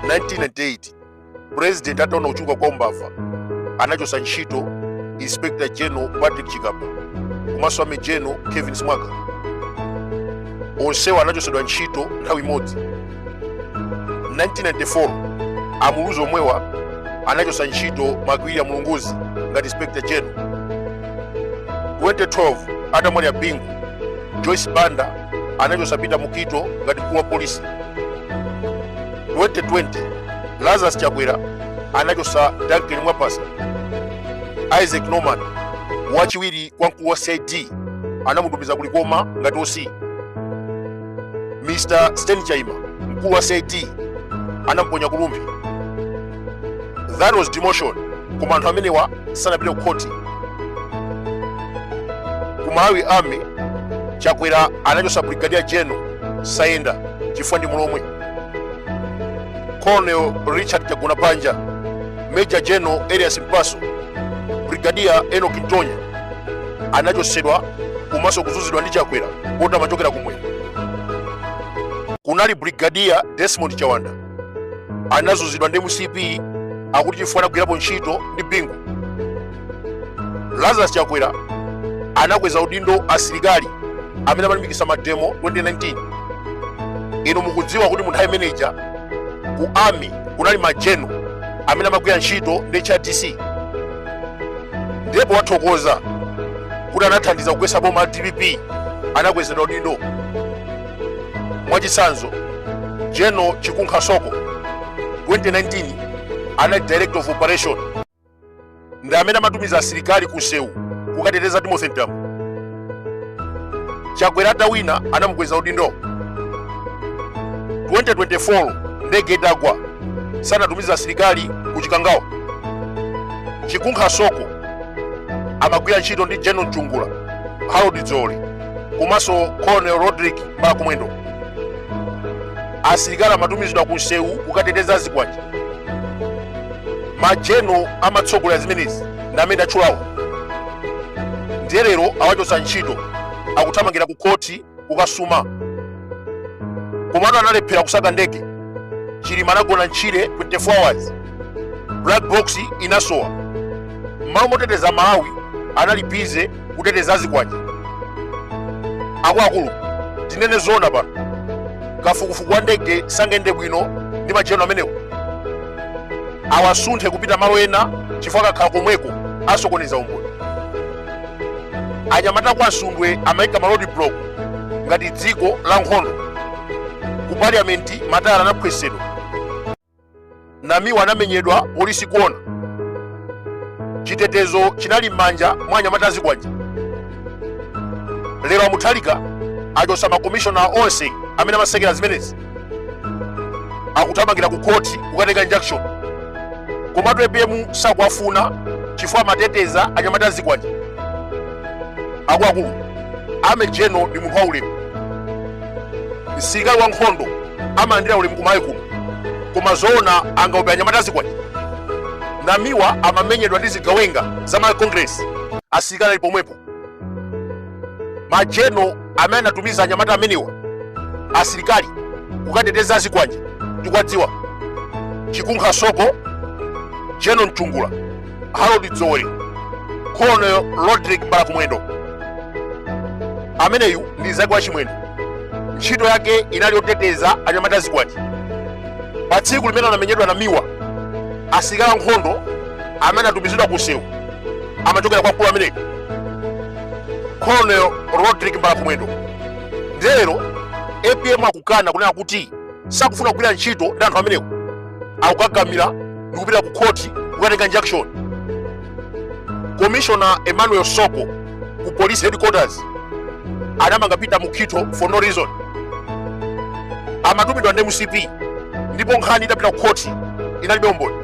1998 president ataona kuchuluka kwa umbava anachosa ntchito inspector general patrick chikapa komanso army general kevin simwaka onsewa anachosedwa ntchito nthawi imodzi 1994 amuluzi omwewa anachosa ntchito mcwilliam lunguzi ngati inspector general 2012 atamwalira bingu joyce banda anachotsa Peter Mukhito ngati mkulu wa polisi 2020 Lazarus Chakwera anachotsa Duncan Mwapasa Isaac Norman wachiwiri kwa mkulu wa CID anamutumiza ku Likoma ngati OC Mr. Sten Chaima mkulu wa CID anamponya ku Rumphi that was demotion koma anthu amenewa sanapite ku khoti ku malawi army chakwera anachosa brigadier general sayenda chifukwa ndi mulomwe colonel richard chagonapanja major general elias mpaso brigadier enoch ntonya anachosedwa komanso kuzunzidwa ndi chakwera poti amachokera kumwera kunali brigadier desmond chawanda anazunzidwa ndi mcp akuti chifukwa anagwirapo ntchito ndi bingu lazarus chakwera anakweza udindo asilikali amene amalimbikitsa mademo 2019 inu mukudziwa kuti munthawi imeneja ku army kunali majeno amene amagwira ntchito ndi hrdc ndipo wathokoza kuti anathandiza kugwetsa boma la dpp anakwezedwa udindo mwachitsanzo general chikunkha soko 2019 anali director of operation ndi amene amatumiza asilikali ku nsewu kukateteza timothy mtambo chakwera atawina anamukweza udindo 2024 ndege itagwa sanatumiza asilikali ku chikangawa chikunkha soko amagwira ntchito ndi general mchungula harold dzoli komanso colonel rodrick mbalakumwendo asilikali amatumizidwa ku nsewu kukateteza zikwanje majeno amatsogolera zimenezi ndi amene ndatchulawo ndiye lero awachotsa ntchito akuthamangira ku khoti kukasuma komatu analephera kusaka ndege chilima anagona ntchire 24 hours black box inasowa mmalo moteteza malawi anali bize kuteteza azikwanje akuluakulu tinene zoona pano kafukufuku wa ndege sangende bwino ndi majeno amenewo awasunthe kupita malo ena chifukwa akakhala komweko asokoneza umboni anyamata kwa nsundwe amayika ma roadblock ngati dziko la nkhondo ku parliament matayala anaphwesedwa Namiwa anamenyedwa polisi kuona. Chitetezo chinali m'manja mwa anyamata azikwanje. Lero a Mutharika achosa makomishona onse amene amasekera zimenezi akuthamangira ku khoti kukatenga injunction komatu apm sakuwafuna chifukwa amateteza anyamata azikwanje akuluakulu army general ndi munthu waulemu msilikali wa nkhondo amalandira ulemu kumayi kuno koma zoona angaope anyamata azikwanje namiwa amamenyedwa ndi zigawenga za ma congress asilikali ali pomwepo majeno amene anatumiza anyamata amenewa asilikali kukateteza azikwanje ndikuwadziwa chikunkha soko general mchungula harold dzoole colonel rodrick mbalakumwendo ameneyu ndi nzake wa chimwendo ntchito yake inali yoteteza anyamata azikwanje pa tsiku limene anamenyedwa namiwa asilikali ankhondo amene atumizidwa ku msewu amachokera kwa mkulu ameneyu colonel rodrick mbalakumwendo nde lero apm akukana kunena kuti sakufuna kugwira ntchito ndi anthu amenewo akukakamira ndi kupita ku khoti kukatenga injunction commissioner emmanuel soko ku police headquarters anamanga peter mukhito for no reason amatumidwa ndi mcp ndipo nkhani itapita ku khoti inalibe umboni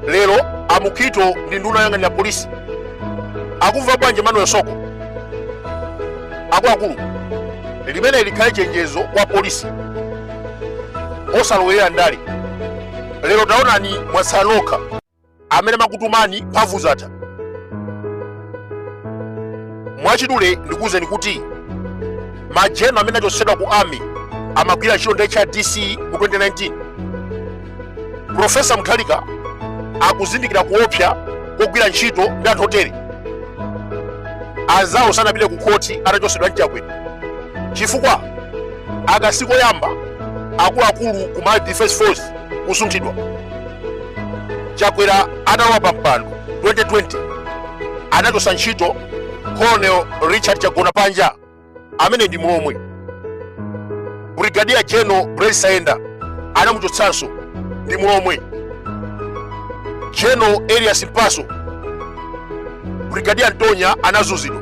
lero a mukhito ndi nduna yoyang'anira polisi akumva bwanji emmanuel soko akuluakulu limeneli likhale chenjezo kwa apolisi osalowerera ndale lero taonani mwatsala nokha amene amakutumani mphamvu zatha mwachidule ndikuwuzeni kuti majeno amene achotsedwa ku army amagwira ntchito ndi hrdc mu 2019 Profesa Mutharika akuzindikira kuopsa kogwira ntchito ndi anthu otere. Anzawo sanapite ku khoti atachotsedwa ndi Chakwera chifukwa aka sikoyamba akuluakulu ku Malawi Defence Force kusunthidwa. Chakwera atalowa pa mpando 2020 anachotsa ntchito Colonel Richard Chagonapanja amene ndi mlomwe brigadier general Blaise Saenda anamuchotsanso ndi mlomwe general Elias Mpaso brigadier Antonia anazunzidwa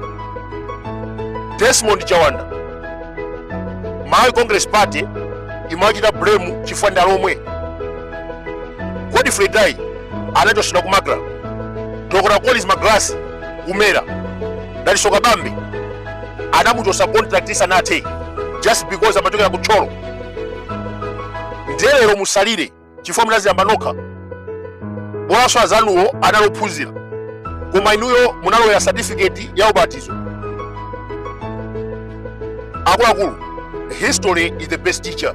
Desmond Chawanda Malawi Congress Party imachita blame chifukwa ndi alomwe Godfrey Itaye anachotsedwa ku Macra Dr. Collins Magalasi ku Mera Dalitso Kabambe anamuchosa contract isanathe just because amachokera ku Thyolo nde lero musalire chifukwa munaziyamba nokha bolanso azanuwo anali ophunzira koma inuyo munalowera certificate ya ubatizo akuluakulu history is the best teacher